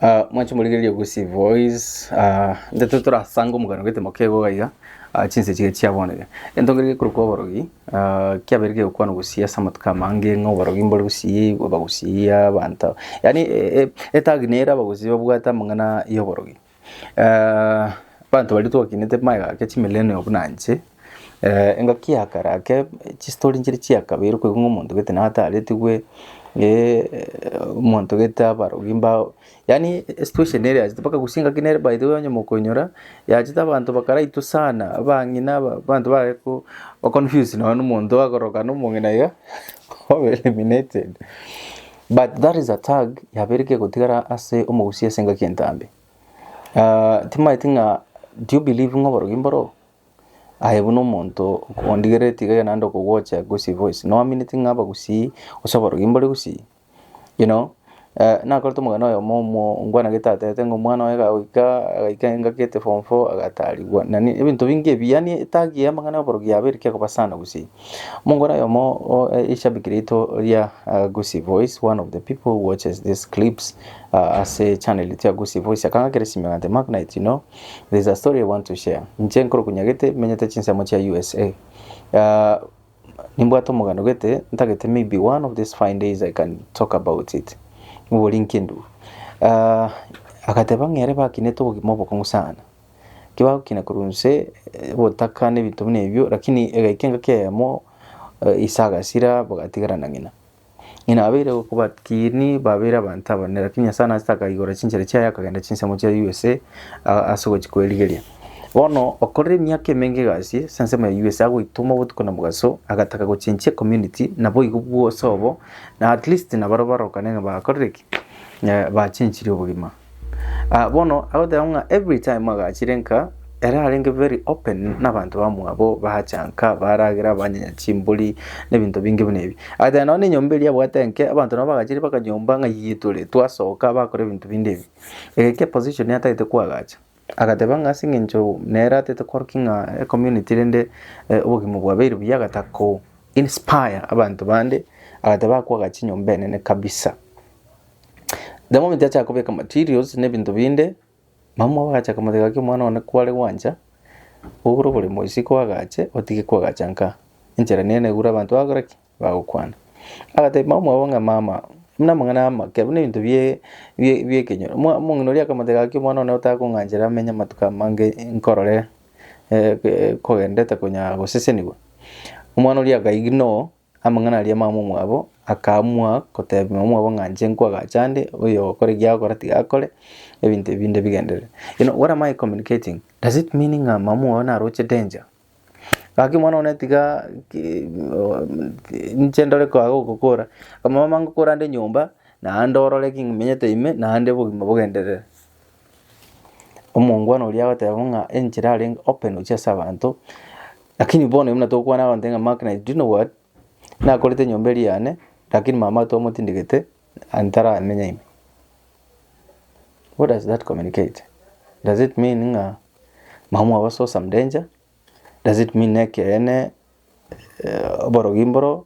Ah, mwanche morigererie Gusii Voice. Ah, nteto torasanga omogano getemo kego gaiga. Ah, chinse chiga chiaboneke. Entonge rige korokwa oborogi. Ah, kiabere kegokwana Gusii ase amatuko amange ng'a oborogi mbore Gusii, abagusii, abanto. Yaani e- e- etagi nere abagusii babwate amang'ana y'oborogi. Ah, abanto baria twakinete magega ake chimilenio buna inche, engaki ya kare ake chistori nchire chia kabere okoigwa ng'a omonto gete nigo ataretigwe omonto gete abarogi mbao yaani esitueshon ere yachete mpaka gose engaki nere by the way onye mokoinyora yachete abanto bakaraitwa sana abang'ina aba abanto bare ko ba confuse nonye na omonto akorokana omong'ina iga obe eliminated but that is a tag yabeire kegotigara ase omogusii ase engaki entambe timaeti ng'a do you believe ng'a oborogi mboroo. Aye buna omonto ondigereti iga naende okogocha gusii boys noamineti ng'a abagusii gose aborogi mbore gusii you know nakorete omogani oyomo omuo nkwanagete atebete ng'a omwana oye gagoika agaika engaki ete form four agatarigwa nani ebinto binge ebi yaani etagi ya amang'ana ya oborogi yaba ere kegokaba sana gusii. Omongwana oyomo o erishabiki rito ria gusii boys one of the people who watches these clips ase echannel eye ya gusii boys akang'akera esimi akantebia mark knight you know There is a story I want to share. Inche nkorokwa nyagete menyete chinsemo chia USA. Uh, nimbwate omogano gete ntagete maybe one of these fine days I can talk about it. Mubori nkindu. Uh, agateba ng'ere bakinete obogima obokong'u sana. Kibagokina kurunse eh, botaka n'ebinto buna ebio lakini egaika engaki eyemo eh, ise agasira bagatigarana ng'ina. Ng'ina abeire gokobakini babeire abanto abanene, lakini Nyasae naachete akaigora chinchera chiaye akagenda chinsemo chia USA a- ase ogochia kwerigeria. Bono okorire emiaka emenge egasi ase ensemo ya USA agoitoma obotuko na mogaso agataka gochenchia ecommunity naboigo bwose obo na at least nabare barokane ng'a bakorire ki? Bachenchirie obogima. Ah, bono agoteba ng'a every time agachire nka ere arenge very open n'abanto bamwabo bacha nka baragera banyenya chimbori n'ebinto binge buna ebi agoteba nonye na enyomba eria abwate enke abanto nabo bagachire mpaka nyomba ng'a yiyie tore twasoka bakora ebinto binde ebi egekio eposition atagete koagacha agateba ng'a ase eng'encho nere atagete korokia ng'a ecommunity rende obogima bwabeire buya agata ko inspire abanto bande agateba akoagacha enyomba enene kabisa. The moment achaka kobeka materials na ebinto binde, mama obo agachaka komotebia gaki omwana one kware gwancha, ogure oboremo isiko agache otige kwagacha nkaa, enchera nene egure abanto bagokora ki? bagokwana. Agatebia mama obo ng'a mama, buna amang'ana ya amake buna ebinto bie bie bie ekenyoro, mwa omong'ina oria akamotebia gaki omwana one otake kong'anchera amenye amatuko amange nkorore kogendete konya gosesenigwa. Omwana oria akaigina oo. Amang'ana aria mamomwabo akaamua kotebia mamomwabo ng'a inche nkwagacha ande, oyokora ekiya agokora tiga akore, ebinto ebi binde bigenderere. You know what am I communicating? Does it mean ng'a mamomwabo naroche danger? Gaki omwana one tiga ki- inche ndore koa gokokora, mama ngokora ande nyomba, naende orore ki- ng'imenyete ime, naende obogima bogenderere. Omongwana oria agoteba ng'a enchera arenge open gochia ase abanto, lakini bono oyo buna tokwana abanto ng'a mark naye do you know what? Nakorete enyomba eria yane, lakini mama tomotindegete and taramenya ime. What does that communicate? Does it mean ng'a mama mwabo ase some danger? Does it mean ekeene oborogi mboro?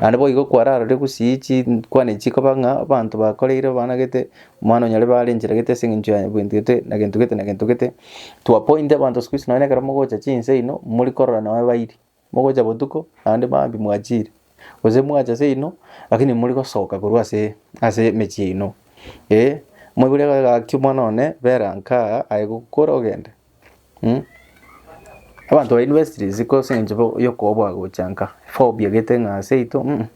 Naende boigo kwararorire gusii chikwane echi chikoba ng'a abanto bakoreire babaanagete, omwana onya ribe arencheregete ase eng'encho ya gento gete na gento gete na gento gete. To a point abanto siku hizi nonya na ekero mogocha chinsa ino, mori korora nonya bairi, mogocha botuko naende maambia mwachire, gose mwacha seino lakini mori gosoka korwa ase ase emechie yaino, eh. Moiboria gaki omwana one bera nkaa aye gokora ogende. Mh. Abanto ba university ziko ase eng'encho bo- yokoboa gocha nka, phobia gete ng'a ase yaito mh,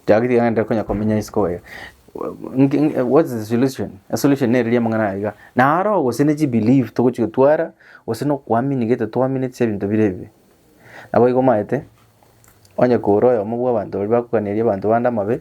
tibageti iga nere konya komenya isiko iga. Nki nki what is the solution? Esolution nere ria amang'ana aya iga, naro gose ne chibelief togochi gotwara, gose na okoamini gete twaminetie ase ebinto bire ebibe. Naboigo omaete, onye kore oyomo bw'abanto baria bakoganeria abanto bande amabe.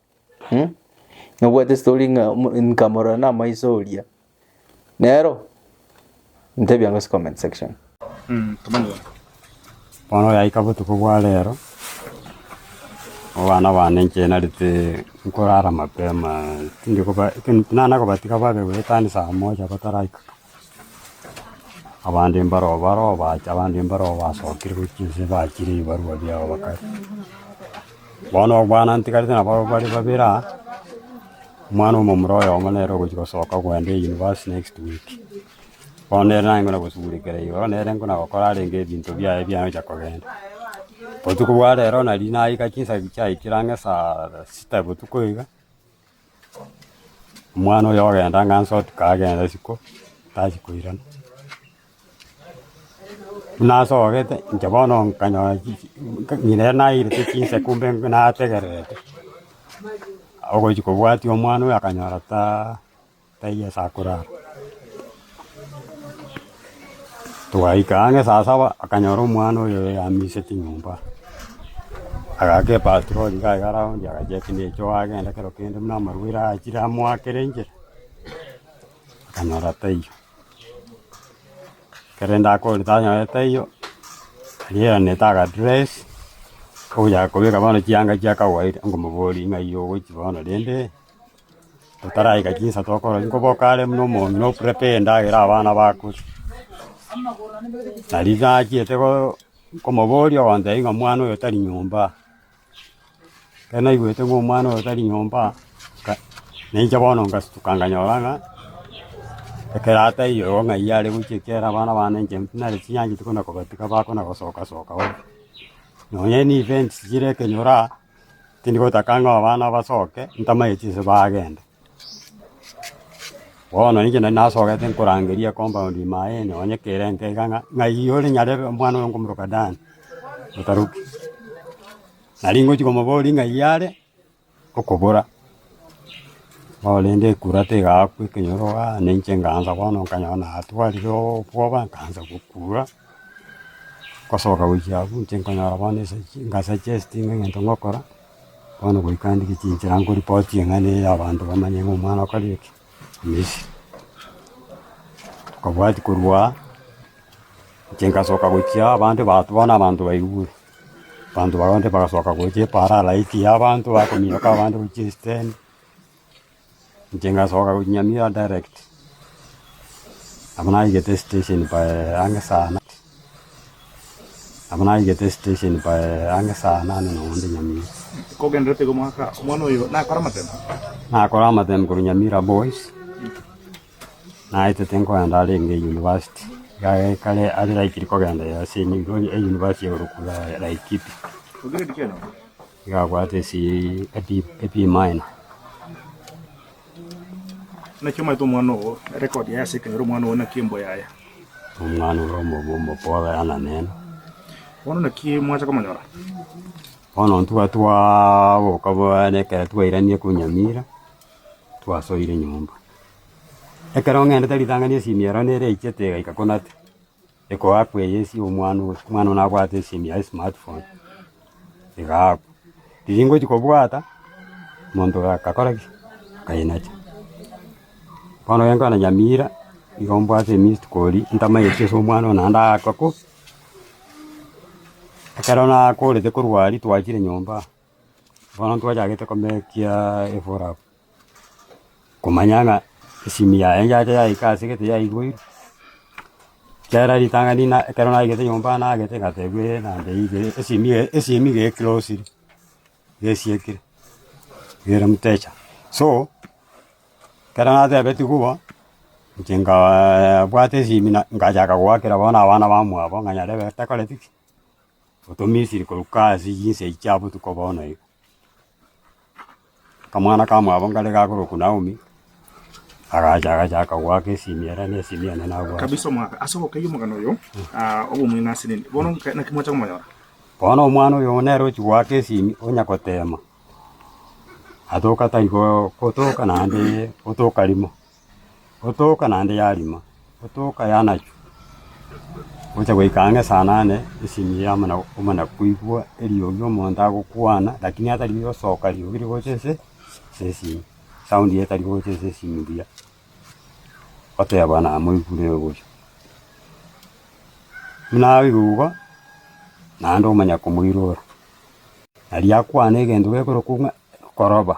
Hm? Nobwate story ng'a omo- nkamorora namaiso oria. Nero, ntebia ang'o ase comment section. Bono oyaika botuko bwa rero, abana bane nchienarete nkorara mapema, tindi koba- ekero- nana kobatiga babe goetania saa moja bataraika. Abande mbaroo baroo bacha abande mbaroo basokire gochia inse bachire ebibarwa biabo bakare. Bono obwana ntigarete nabo bare babere aa, omwana omomura oyomo nere ogochia gosoka kogenda eyunivasiti next week. Bono nere naye ngona gosugurekera igoro nere ngona gokora arenge ebinto biaye biana gochia kogenda. Botuko bwa rero nari naika chinsa chiaikire ang'e saa sita botuko iga, Omwana oyo ogenda ng'a nse otuko agende isiko tachia koirana. Buna asogete inche bono nkanyora chi chi ng'ina ere nairete chinse kumbe nategererete, ogochia kobwatia omwana oyo akanyora taa. Taiyo Yeso akorara. Togaika ang'e saa saba, akanyora omwana oyo oyamiseti nyomba. Agaaka epatroli iga iga roundi, agachia ati neche oagenda kero kende buna amarwaire achire amoakere enchera, akanyora taiyo. Ekero rende akorire tanyore taiyo, rigeranete aga dress, ogochaka kobeka bono chianga chiakawaida, ngomoboria ng'ai ogochi bono rende. Totaraika chinsa tokorora nkoboka are buna omong'ina o prepare endagera abana bakure. Nari nachiete koo nkomoboria ogoteba ng'a omwana oyo tari nyomba aa. Ekero naigwete ng'a omwana oyo tari nyomba aa, nka nainche bono ngasituka nkanyora ng'a ekero ataiyo igo ng'aiyo are gochia ekiagera abana bane inche nare chinyanchete kona kobatiga bakona gosoka soka bobe. Nonye ne events chire ekenyoro aa. Tindi gotaka ng'a abana basoke, ntamaye chinse bagende. Bono inche nari nasogete nkorangeria compound ime aye, nonye kere enka iga ng'a ng'ai ore nyarebe omwana oyo nkomoroka Dan, otaruki. Nari ngochia komoboria ng'ai are okobora. Bono rende ekura tegaakwa ekenyoro aa, na inche nkaansa bono nkanyora natwarire obwoba, nkaansa gokura, ngosoka gochia abwo inche nkanyora bono ase chi ngasuggestinga egento ngokora, bono goika ndire chinchera nkoripotie ng'a ne abanto bamanye ng'a omwana okore eke, misia. Nkobwati korwa aa, inche nkasoka gochia aa abande bateba bono abanto baiure. Abanto baria bonsi bagasoka gocha eparalaiti y'abanto bakominyoka abande gochia esitendi. Inche ngasoka gochia Nyamira direct. Nabo naigete esitesheni by ang'e saa inane. Nabo naigete esitesheni by ang'e saa inane nonya inde Nyamira. Kogenderete iga omwaka, omwana oyo nakore amatembe? Nakora amatembe korwa Nyamira boys. Naete tinkogenda arenge eyunivasiti. Egari ekare aria naikire kogenda ere ase eyunivasiti igoro kule Laikipia. Igabwate ase AP AP minor. Omwana ore omobe omoboa oyana nere. Bono intwe twaboka bono ekero twairanirie korwa Nyamira. twasoire nyomba. Ekero ng'endete ritang'ani esimi ero nere eichete egaika ko nate, ekoakwa eye esie omwana oyo, omwana oyo nabwate esimi yaye smart phone, egaakwa. Riria ngochia kobwata, monto oyo agakora ki? Akainacha. Bono ekero nkona nyamira, nigo mbwate emissed call ntamaeti ase omwana oyo naende aakwa ko. Ekero nakorete korwa aria twachire nyomba. Bono ntwachagete komekia efora abwo, komanya ng'a esimi yaye enchante yaika ase gete yaiboirwe, kera ritang'ani na ekero naigete nyomba nagete ngatebwa ee nande ige esimi eye esimi iga eklosire, gesiekire, ere mtecha. So, ekero natebetigwe bo, inche nkaaa bwate esimi na ngachaka goakera bono abana bamwabo ng'a nyarebe takoreti ki? goto Misiri korokwa ase yinse echi ya botuko bono iga. Akamwana ka mwabo nkare gakorokwa Naomi, agacha agachaka goaka esimi ere na esimi ende nabwate. kabisa omwaka ase ogokeyia omogano oyo ah, obomweng'e ase nini bono nka- naki mwacha komonyora Bono omwana oyo nere ochia goaka esimi onya gotema, atoka tari go- gotoka naende gotoka rimo. Otooka naende yarima, otooka yanachwa, gocha goika ang'e saa nane esinyi ya omona omona koigwa eriogi omonto agokwana, lakini atari gosoka riogi rigocha ase ase esinyi, sound etari gocha ase esinyi mbuya, oteba namoigure ogocha. Buna abeirwe igo, naende omanya komoirora, aria akwane egento gekorokwa ng'a koroba.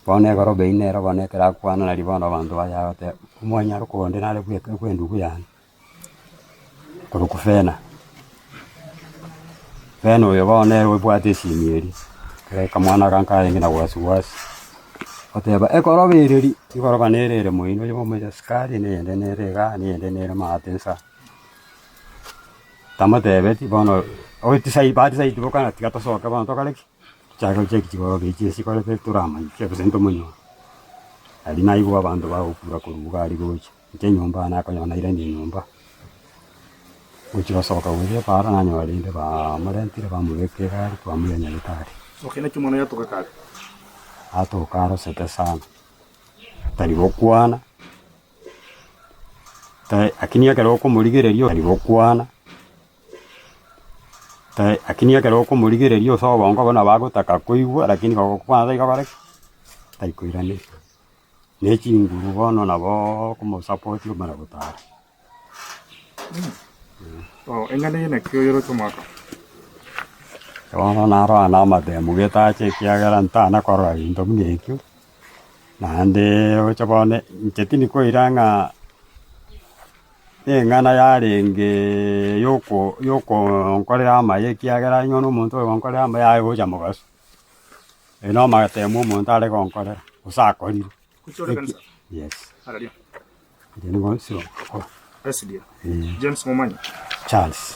Bono egoroba ime ero bono ekero akwana nari bono abanto baye agateba, Omonyara okoa onde nare bweka bw'endubu yane korwa kufena. Fena oyo bono nere obwate esimi eria, ekero aika mwana aganka arenge na gwasi gwasi, oteba, Egoroba ere ri, igoroba nere ere moino oyomo omoira sukari, na eyende nere iga, na eyende nere maate nsa. Tamotebeti bono, otisai batisaiti bokana tiga tosoke bono tokore ki? Chiagera chiaito chigoroke echi chikorete toramanye, chiabesanete tomonyore. Aria naigwe abanto bagokura korwa iga aria gocha, inche enyomba yane akonyora nairani enyomba. Gochia gosoka gocha para nanyora rende bamorentire bamobeka egari bamoira nyagetari. Atoka arosete sana, tari gokwana, ta- lakini ekero okomorigereria tari gokwana. Lakini ekero okomorigereria ase obongo bono nabo agotaka koigwa, lakini kogokwana tari kogora ki? Tari koiraneria. Ne chinguru bono nabo okomosapoti omare gotara. Bono narora na amatemu getache ekiagera ntana korora gento buna ekio, naende oche bono inche tindi koira ng'a. Eng'ana yarenge y'oko y'okonkorera amaya, ekiagera onye buna omonto oyogonkorera amaya aye gocha mogaso, aye nomatemu omonto are gonkorera gose akorire. Yes. Erio nigo nsibagokora. Charles.